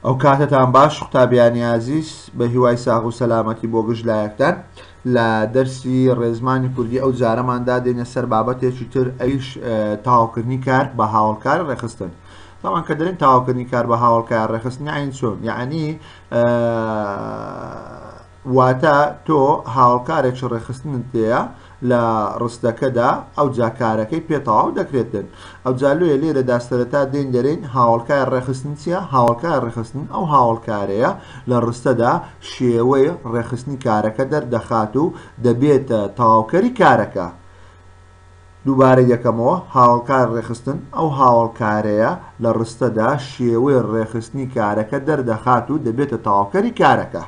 ئەو کاتەتان باش قوتابیانی ئازیز بە هیوای ساغ و سەلامەتی بۆ گشت لایەکتان لە دەرسی ڕێزمانی کوردی ئەو جارەماندا دێنە سەر بابەتێکی تر ئەویش تاوکردنی کار بە هاوڵکار ڕێخستن تاوان کە دەرین تاوکردنی کار بە هاوڵکار ڕێخستنی عین چۆن یعنی واتە تۆ هاوکارێکی ڕێکخستنت پێیە لە ڕستەکەدا ئەوجا کارەکەی پێ تەواو دەکرێت بێت ئەوجا لێ لێرەدا سەرەتا دێین دەرێن هاوڵکار ڕێخستن چیە هاوڵکار ڕێخستن ئەو هاوڵکارەیە لە ڕستەدا شێوەی ڕێخستنی کارەکە دەردەخات و دەبێتە تەواوکەری کارەکە دووبارە یەکەمەوە هاوەڵکار ڕێکخستن، ئەو هاوەڵکارەیە لە ڕستەدا شێوەی ڕێکخستنی کارەکە دەردەخات و دەبێتە تەواوکەری کارەکە.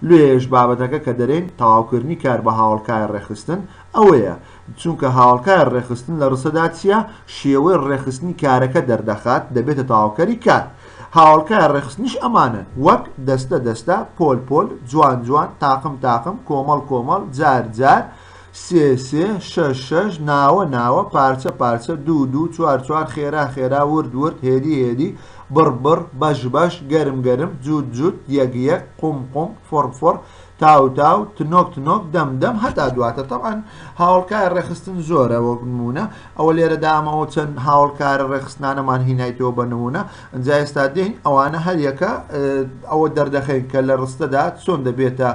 لێێش بابەتەکە کە دەرێین تەواوکردنی کار بە هاوەڵکای ڕێکخستن ئەوەیە، چونکە هاوەڵکای ڕێکخستن لە ڕستەدا چییە؟ شێوەی ڕێکخستنی کارەکە دەردەخات، دەبێتە تەواوکەری کار. هاوەڵکای ڕێکخستنیش ئەمانەن، وەک، دەستە دەستە، پۆل پۆل، جوان جوان، تاقم تاقم، کۆمەڵ کۆمەڵ، جار جار، سێ سێ شەش شەش ناوە ناوە پارچە پارچە دوو دوو چوار چوار خێرا خێرا ورد ورد هێدی هێدی بڕ بڕ بەش بەش گەرم گەرم جووت جووت یەک یەک قوم قوم فڕ فڕ تاو تاو تنۆک تنۆک دەم دەم هەتا دواتر تەبعەن هاوڵکای ڕێخستن زۆرە وەک نمونە ئەوە لێرە دامەوە چەند هاوڵکارە ڕێخستنانەمان هینایتەوە بە نمونە ئەجا ئێستا دێین ئەوانە هەریەکە ئەوە دەردەخەین کە لە ڕستەدا چۆن دەبێتە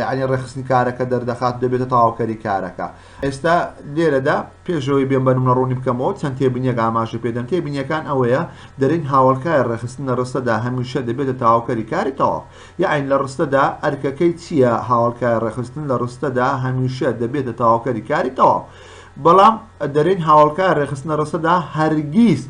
یعنی ڕێخستنی کارەکە دەردەخات دەبێتە تاواوکەری کارەکە ئێستا لێرەدا پێشەوەی بێن بەنمە ڕوونی بکەمەوە چەند تێبنیەک ئاماژە پێدەن تێبینیەکان ئەوەیە دەرین هاوڵکای ڕێخستن لە ڕستەدا هەمیشە دەبێتە تاواوکەری کاری تەواو یاعین لە ڕستەدا ئەرکەکەی چییە هاوڵکای ڕێخستن لە ڕستەدا هەمیشە دەبێتە تاواوکەری کاری تەواو بەڵام دەرین هاوڵکای ڕێخستنە ڕستەدا هەرگیز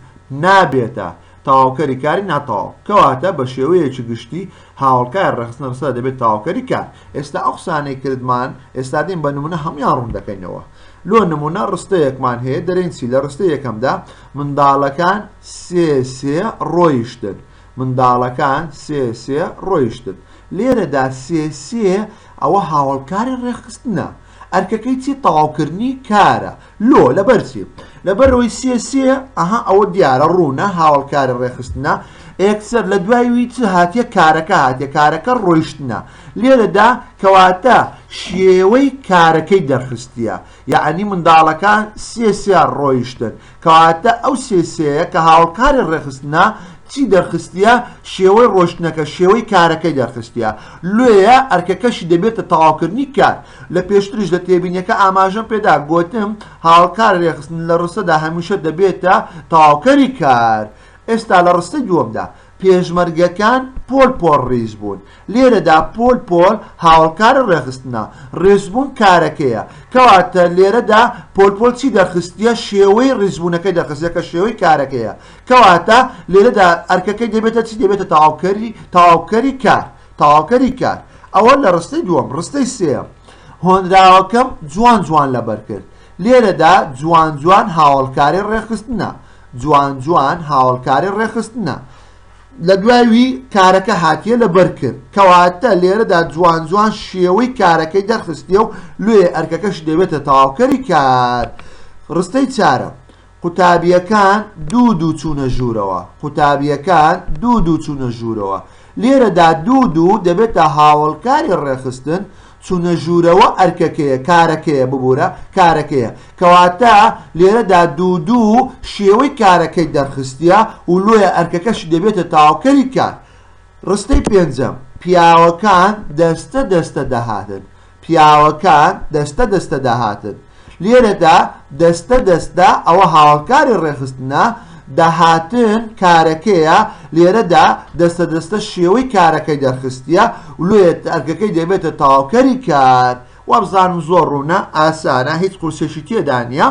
نابێتە تەواوکەری کاری ناتەواو، کەواتە بە شێوەیەکی گشتی هاوەڵکاری ڕێکخستنە ڕستە دەبێتە تەواوکەری کار. ئێستا ئەو قسانەی کردمان، ئێستا دێین بە نموونە هەموویان ڕوون دەکەینەوە. لۆ نموونە ڕستەیەکمان هەیە، دەرێین چی؟ لە ڕستەی یەکەمدا، منداڵەکان سێ سێ ڕۆیشتن. منداڵەکان سێ سێ ڕۆیشتن. لێرەدا سێ سێ ئەوە هاوەڵکاری ڕێکخستنە. ئەرکەکەی چی؟ تەواوکردنی کارە. لۆ لەبەر چی لەبەر ئەوەی سێ سێ ئەها ئەوە دیارە ڕوونە هاوڵکاری ڕێخستنە ئێکسەر لە دوای وی چ هاتیە کارەکە هاتیە کارەکە ڕۆیشتنە لێرەدا کەواتە شێوەی کارەکەی دەرخستیە یعنی منداڵەکان سێ سێ ڕۆیشتن کەواتە ئەو سێ سێیە کە هاوڵکاری ڕێخستنە چی دەرخستیە شێوەی ڕۆشتنەکە شێوەی کارەکەی دەرخستیە لێە ئەرکەکەشی دەبێتە تەواوکردنی کار لە پێشتریش لە تێبینیەکە ئاماژەم پێدا گۆتم هاوکار رێخستن لە رستەدا هەمیشە دەبێتە تەواوکەری کار ئێستا لە رستەی دووەمدا پێشمەرگەکان پۆل پۆل ریز بوون لێرەدا پۆل پۆل هاوڵکار رێخستنە رێزبوون کارەکەیە کەواتە لێرەدا پۆل پۆل چی دەرخستیە شێوەی ریزبوونەکەی دەخستە کە شێوەی کارەکەیە کەواتە لێرەدا ئەرکەکەی دەبێتە چی دەبێتە تەواوکەری تەواوکەری کار تەواوکەری کار ئەوە لە ڕستەی دووەم ڕستەی سێیەم هۆنراوەکەم جوان جوان لەبەر کرد لێرەدا جوان جوان هاوڵکاری ڕێخستنە جوان جوان هاوڵکاری ڕێخستنە لە دوایوی کارەکە هاتیە لە بەرکرد کەواتە لێرەدا جوان جوان شێوەی کارەکەی دەرخستیە و لێ ئەرکەکەش دەبێتە تاوکەری کار ڕستەی چارە قوتابییەکان دوو دوو چوونە ژوورەوە. قوتابییەکان دوو دوو چوونە ژوورەوە. لێرەدا دوو دوو دەبێتە هاوەڵکاری ڕێکخستن، چوونە ژوورەوە ئەرکەکەیە، کارەکەیە، ببوورە، کارەکەیە. کەواتە لێرەدا دوو دوو شێوەی کارەکەی دەرخستیە و لۆیە ئەرکەکەشی دەبێتە تاوکەری کار. ڕستەی پێنجەم، پیاوەکان دەستە دەستە دەهاتن. پیاوەکان دەستە دەستە داهاتن، لێرەدا دەستە دەستە ئەوە هاوکاری ڕێکخستنە، داهاتن کارەکەیە، لێرەدا دەستە دەستە شێوەی کارەکەی دەرخستیە، لۆیە ئەرکەکەی دەبێتە تەواوکەری کار. وابزانم زۆر ڕوونە، ئاسانە، هیچ قورسێکی تێدا نیە.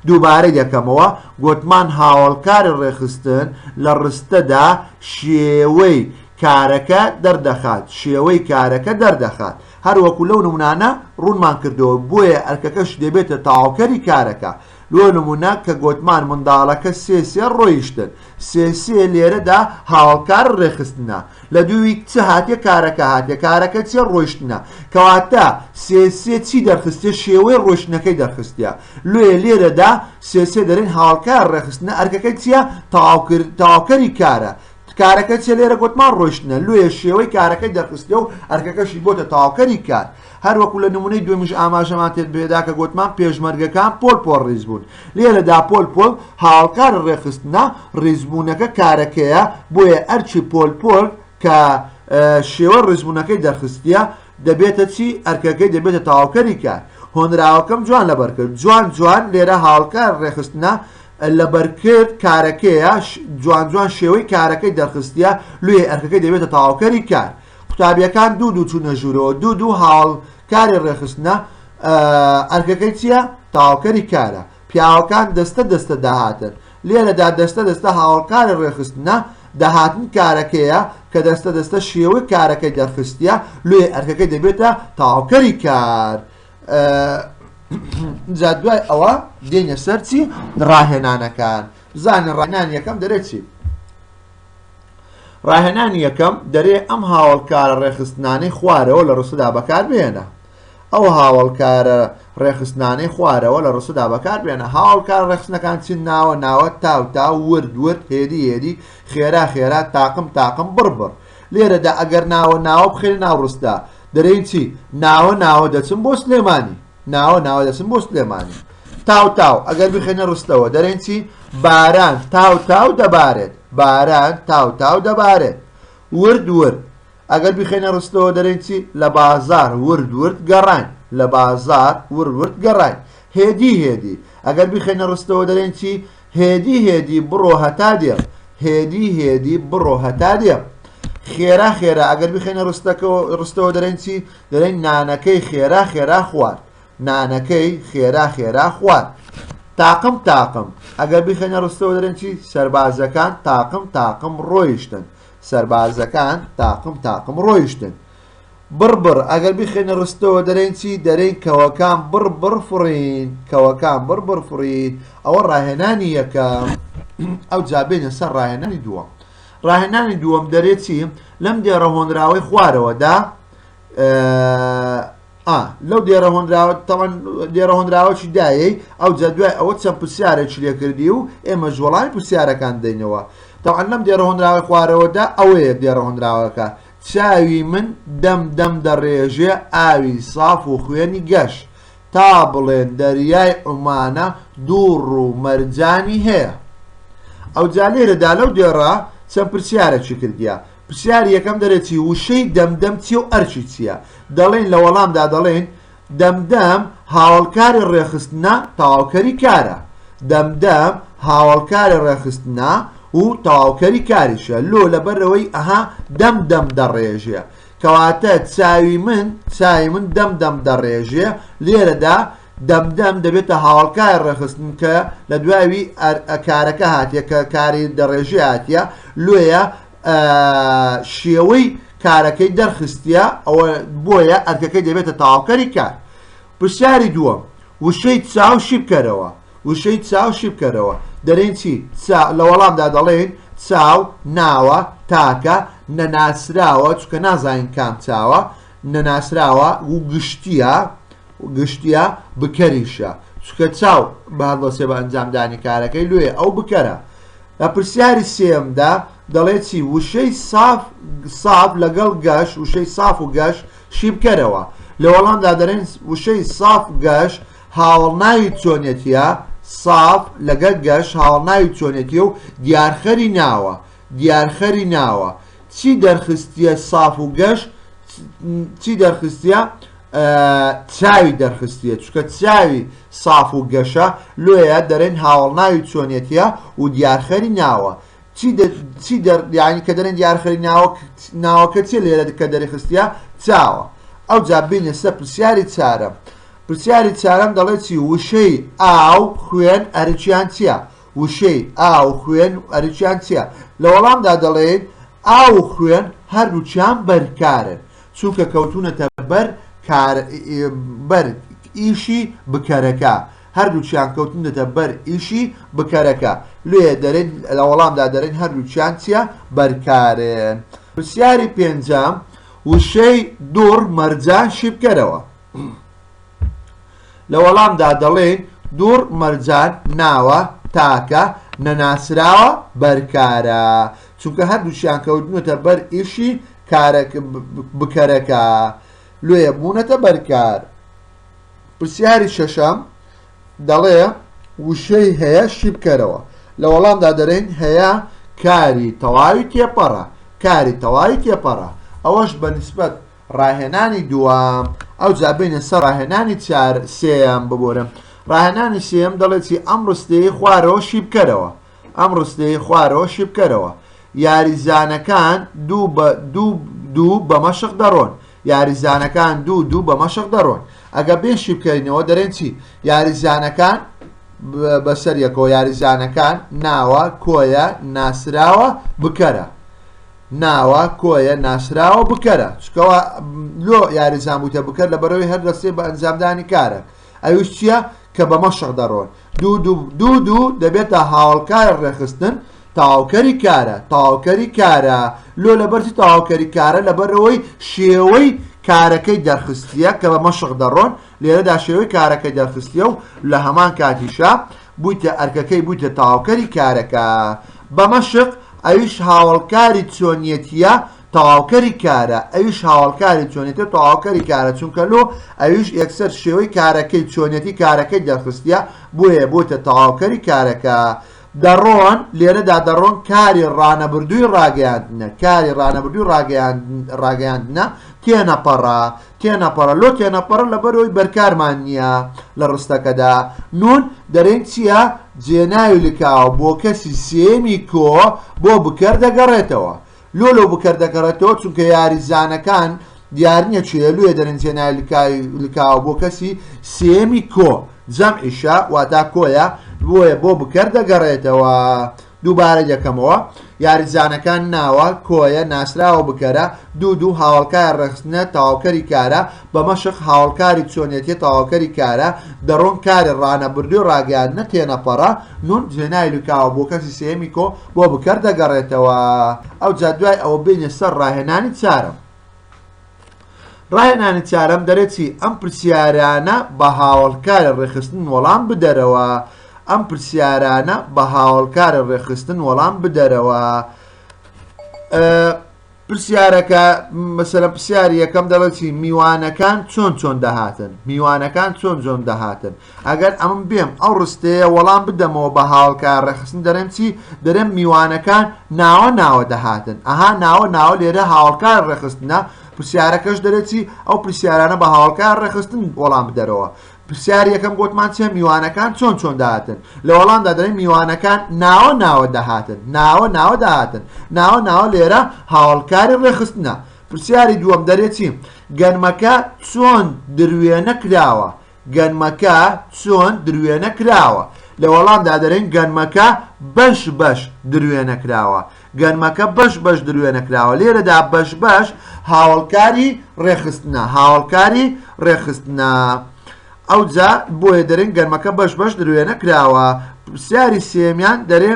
دووبارەی دەکەمەوە، گۆتمان هاوکاری ڕێکخستن لە ڕستەدا شێوەی کارەکە دەردەخات، شێوەی کارەکە دەردەخات. هەر وەکو لەو نمونانە ڕوونمان کردووە بۆیە ئەرکەکەش دەبێتە تەواوکەری کارەکە لۆ نمونە کە گۆتمان منداڵەکە سێ سێ ڕۆیشتن سێ سێ لێرەدا هاوەڵکار ڕێخستنە لە دووی چ هاتێ کارەکە هاتێ کارەکە چێ ڕۆیشتنە کەواتە سێ سێ چی دەرخستێ شێوەی ڕۆشتنەکەی دەرخستە لۆیە لێرەدا سێ سێ دەرێن هاوەڵکار ڕێخستنە ئەرکەکە چیە تەواوکەری کارە کارەکە چیە لێرە گۆتمان ڕۆیشتنە لۆیە شێوەی کارەکەی دەرخستێ و ئەرکەکەشی بۆتە تەواوکەری کار هەروەکو لە نمونەی دوێمیش ئاماژەمان تێت بێدا کە گۆتمان پێشمەرگەکان پۆل پۆل ڕیز بوون لێرەدا پۆل پۆل هاوکار ڕێکخستنە ڕیزبوونەکە کارەکەیە بۆیە ئەرکی پۆل پۆل کە شێوە ڕیزبوونەکەی دەرخستە دەبێتە چی ئەرکەکەی دەبێتە تەواوکەری کار هۆنراوەکەم جوان لەبەرکرد جوان جوان لێرە هاوکار ڕێخستنە لەبەرکرد کارەکەیە جوان جوان شێوەی کارەکەی دەرخستیە لویێ ئەرکەکەی دەبێتە تەواوکەری کار قوتابیەکان دوو دوو چونە ژورەوە دوو دوو هاوڵ کاری ڕێخستنە ئەرکەکەی چییە تاوکەری کارە پیاوەکان دەستە دەستە داهاتن لێرەدا دەستە دەستە هاوڵکاری ڕێخستنە داهاتن کارەکەیە کە دەستە دەستە شێوەی کارەکەی دەرخستیە لێ ئەرکەکەی دەبێتە تاوکەری کار جا دوای ئەوە دێنە سەر چی ڕاهێنانەکان بزانە ڕێنان یەکەم دەرێت چی ڕاهێنان یەکەم دەرێ ئەم هاوڵکارە ڕێخستنانەی خوارەوە لە ڕسودا بەکار بێنە ئەو هاوڵکارە ڕێخستنانەی خوارەوە لە ڕسودا بەکار بێنە هاوڵکار ڕێخستنەکان چین ناوە ناوە تاو تا ورد ورد هێری هێری خێرا خێرا تاقم تاقم بڕبڕ لێرەدا ئەگەر ناوە ناوە بخەینە ناو ڕستە دەرێین چی ناوە ناوە دەچم بۆ سلێمانی ناوە ناوە دەچم بۆ سلێمانی تاو تاو ئەگەر بخێنە ڕستەوە دەرێن چی باران تاو تاو دەبارێت باران تاو تاو دەبارێت ورد ورد ئەگەر بخێنە ڕستەوە دەرێن چی لە بازار ورد ورد گەڕان لە بازار ورد ورد گەڕان هێدی هێدی ئەگەر بخێنە ڕستەوە دەرێن چی هێدی هێدی بڕۆ هەتا دێم. هێدی هێدی بڕۆ هەتا دێم. خێرا خێرا ئەگەر بخێنە ڕستەکەەوە ڕستەوە دەرێن چی دەرێن نانەکەی خێرا خێرا خوارد نانەکەی خێرا خێرا خوارد تاقم تاقم ئەگەر بخێنە ڕستەوە دەرێن چی سربازەکان تاقم تاقم ڕۆیشتن سربازەکان تاقم تاقم ڕۆیشتن بڕ بڕ، ئەگەر بیخەینە ڕستەوە دەرێین چی؟ دەرێین کەوەکان بڕ بڕ فڕین، کەوەکان بڕ بڕ فڕین، ئەوە ڕاهێنانی یەکەم، ئەوجا بێینە سەر ڕاهێنانی دووەم، ڕاهێنانی دووەم دەرێ چی؟ لەم دێڕە هۆنراوەی خوارەوەدا لەو دێرە هۆنراوە تەوان دێرە هۆنراوەی دایەی ئەو جە دوای ئەوە چەند پرسیارێک لێ کردی و ئێمە ژۆڵای پرسیارەکان دەینەوە تەوان لەم دێرە هۆنراوە خوارەوەدا ئەوەیە دێرە هۆنراوەکە چاوی من دەم دەم دەڕێژێ ئاوی ساف و خوێنی گەش، تا بڵێن دەریای عومانە دوو ڕوو مەرجانی هەیە. ئەوجا لێرەدا لەو دێڕە چەند پرسیارەکی کردیە، پرسیاری یەکەم دەرێ چی؟ وشەی دەم دەم چیە و ئەرکی چیە؟ دەڵێین لە وەڵامدا دەڵێین، دەم دەم هاوەڵکاری ڕێکخستنە تەواوکەری کارە دەم دەم هاوەڵکاری ڕێکخستنە و تەواوکەری کاریشە لۆ لەبەرەوەی ئەها دەم دەم دەڕێژێ کەواتە چاوی من چاوی من دەم دەم دەڕێژێ لێرەدا دەم دەم دەبێتە هاوڵکای ڕێخستن کە لە دوایوی کارەکە هاتیە کە کاری دەڕێژی هاتیە لێە شێوەی کارەکەی دەرخستە ئەوە بۆیە ئەرکەکەی دەبێتە تاواوکەری کار پرسیاری دووەم وشەی چاو شیبکەرەوە وشەی چاو شیبکەرەوە دەرێن چی لە وەڵامدا دەڵێن چاو ناوە تاکە نەناسراوە چکە نازانین کام چاوە نەناسراوە و گشتیە گشتیە بکەریشە چونکە چاو بهدڵەچێ بە ئەنجامدانی کارەکەی لۆیە ئەو بکەرە لە پرسیاری سێیەمدا دەڵێ چی وشەی ساف ساف لەگەڵ گەش وشەی ساف و گەش شی بکەرەوە لە وەڵامدا دەرێن وشەی ساف گەش هاوڵناوی چۆنێتیە ساف لەگەر گەش هاوڵناوی چۆنێتی و دیارخەری ناوە دیارخەری ناوە چی دەرخستیە ساف و گەش چی دەرخستە چاوی دەرخستیە چونکە چاوی ساف و گەشە لۆیە دەرێن هاوەڵناوی چۆنیەتیە و دیارخەری ناوە چی دەر یانی کە دەرێن دیارخەری ناوەک ناوەکە چێ لێرە کە دەرخستیە چاوە ئەو جابینە سە پرسیاری چارم پرسیاری چارم دەڵێت چی وشەی ئاو خوێن ئەرچیان چیە وشەی ئاو خوێن ئەرچیان چیە لە وەڵامدا دەڵێت ئاو خوێن هەردووچیان بەرکارن چونکە کەوتوونەتە بەر کار بەر ئیشی بکەرەکە هەردووچیان کەوتنەتە بەر ئیشی بکەرەکە لێ دەرێن لە وەڵامدا دەرێن هەردووچیان چیە بەرکارێن پرسیاری پێنجام وشەی دوڕ مەرجان شیبکەرەوە لە وەڵامدا دەڵێن دوڕ مەرجان ناوە تاکە نەناسراوە بەرکارە چونکە هەردووچیان کەوتنەتە بەر ئیشی کارە بکەرەکە لۆیە بوونەتە بەرکار پرسیاری شەشەم دەڵێ وشەی هەیە شی بکەرەوە لە وەڵامدا دەرین هەیە کاری تەواوی تێپەڕە کاری تەواوی تێپەڕە ئەوەش بە نسبەت ڕاهێنانی دوام ئەو جابینە سەر ڕاهێنانی چار سێیان ببورم ڕاهێنانی سێم دەڵێتی ئەم ڕستەیە خوارەوە شی بکەرەوە ئەم ڕستەیەی خوارەوە شیبکەرەوە، یاریزانەکان دوو بە دوو دوو بە مەشق دەڕۆن. یاریزانەکان دوو دوو بە مەشق دەڕۆن. ئەگە بێ شیبکەینەوە دەرێن چی؟ یاریزانەکان بەسەر یەکەوە یاریزانەکان ناوە کۆیە ناسراوە بکەرە. ناوە کۆیە ناسراوە بکەرە چکەوە لۆ یاریزان بووتە بکەر لە بەرەوەی هەر دەستێ بە ئەنجامدانی کارە ئەوش چییە کە بەمە شەق دەڕۆن دوو دوو دوو دوو دەبێتە هاوەڵکارە ڕێخستن تەواوکەری کارە تەواوکەری کارە لۆ لەبەرچی تەواوکەری کارە لەبەرەوەی شێوەی کارەکەی دەرخستیە کە بە مەشق دەڕۆن لێرەدا شێوەی کارەکەی دەرخستیە و لە هەمان کاتیشە بوویتە ئەرکەکەی بوویتە تەواوکەری کارەکە بە مەشق ئەویش هاوڵکاری چۆنیەتیە تەواوکەری کارە ئەویش هاوەڵکاری چۆنێتیە تەواوکەری کارە چونکە لۆ ئەویش یەکسەر شێوەی کارەکەی چۆنێتی کارەکەی دەرخستیە بۆیە بۆتە تەواوکەری کارەکە دەڕۆن لێرەدا دەڕۆن کاری ڕانەبردووی ڕاگەیاندنە کاری ڕانەبردووی ڕاگەیاندنە تێنەپەڕە تێنەپەڕە لۆ تێنەپەڕە لەبەرەوەی بەرکارمان نییە لە ڕستەکەدا نون دەرێن چییە جێناوی لکاوە بۆ کەسی سێمی کۆ بۆ بکەر دەگەڕێتەوە لۆ لۆ بکەر دەگەڕێتەوە چونکە یاریزانەکان دیارنیە چ هێلویە دەرن جێنای لکای لکاوە بۆ کەسی سێمی کۆ جەم ئیشە واتا کۆیە بۆیە بۆ بکەر دەگەڕێتەوە دووبارە یەکەمەوە یاریزانەکان ناوە کۆیە ناسراوە بکەرە دوو دوو هاوڵکای ڕخستنە تاواوکەری کارە بە مەشق هاوەڵکاری چۆنیەتیە تەواوکەری کارە دەڕۆن کارێ ڕانەبردووی ڕاگەیاندنە تێنەپەڕە نون جێناوی لوکاوە بۆ کەسی سێیەمی کۆ بۆ بکەر دەگەڕێتەوە ئەوجا دوای ئەوە بێنە سەر ڕاهێنانی چارەم ڕاهێنانی چارەم دەرێتی ئەم پرسیارانە بە هاوەڵکارە ڕێخستن وەڵام بدەرەوە ئەم پرسیارانە بە هاوەڵکارە ڕێخستن وەڵام بدەرەوە پرسیارەکە مەسەرە پرسیاری یەکەم دەڵێتی میوانەکان چۆن چۆن دەهاتن میوانەکان چۆن جۆن دەهاتن ئەگەر ئەم بێم ئەو ڕستەیە وەڵام بدەمەوە بە هاوڵکە ڕێخستن دەرێم چی دەرێم میوانەکان ناوە ناوە دەهاتن ئەها ناوە ناوە لێرە هاوڵکار ڕێخستنە پرسیارەکەش دەرێتی ئەو پرسیارانە بە هاوڵکار ڕێخستن وەڵام بدەرەوە پرسیاری یەکەم گۆتمان چیە میوانەکان چۆن چۆن داهاتن لە وەڵامدا دەڵێن میوانەکان ناوە ناوە دەهاتن ناوە ناوە داهاتن ناوە ناوە لێرە هاوڵکاری ڕێخستنە پرسیاری دووەم دەرێچیم گەنمەکە چۆن دروێنە کراوە گەنمەکە چۆن دروێنە کراوە لە وەڵامدا دەرێن گەنمەکە بەش بەش دروێنە کراوە گەنمەکە بەش بەش دروێنە کراوە لێرەدا بەش بەش هاوڵکاری ڕێخستنە هاوڵکاری ڕێخستنە ئەوجا بۆیە دەرێن گەنمەکە بەش بەش دروێنە کراوە پرسیاری سێمیان دەرێ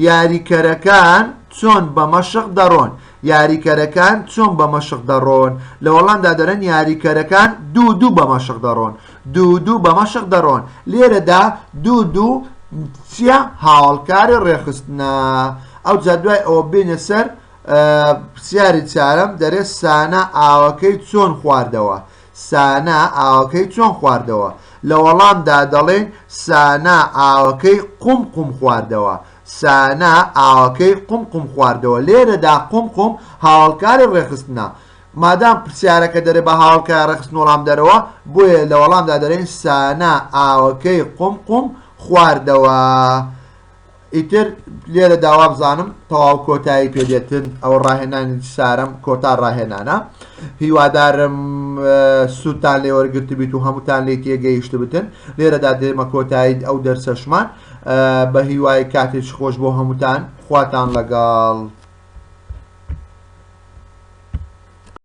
یاریکەرەکان چۆن بە مەشق دەڕۆن یاریکەرەکان چۆن بە مەشق دەڕۆن لە وەڵامدا دەرن یاریکەرەکان دوو دوو بە مەشق دەڕۆن دوو و دوو بە مەشق دەڕۆن. لێرەدا دوو و دوو چیە؟ هاوەڵکاری ڕێکخستنە. ئەوجا دوای ئەوە بێینە سەر پرسیاری چارەم، دەرێ سانا ئاوەکەی چۆن خواردەوە؟ سانا ئاوەکەی چۆن خواردەوە؟ لە وەڵامدا دەڵێین سانا ئاوەکەی قوم قوم خواردەوە. سانا ئاوەکەی قوم قوم خواردەوە. لێرەدا قوم قوم هاوەڵکاری ڕێکخستنە. مادام پرسیارەکە دەرێ بە هاوکای ڕێکخستن وەڵام دەرەوە بۆیە لە وەڵامدا دەرێن سانا ئاوەکەی قوم قوم خواردەوە ئیتر لێرە داوا بزانم تەواو کۆتایی پێدێتن ئەو ڕاهێنانی سارم کۆتا ڕاهێنانە هیوادارم سووتان لێ وەرگرت بیت و هەمووتان لی تێگەیشت بتن لێرەدا دێمە کۆتایی ئەو دەرسەشمان بە هیوای کاتێک خۆش بۆ هەمووتان خواتان لەگەڵ.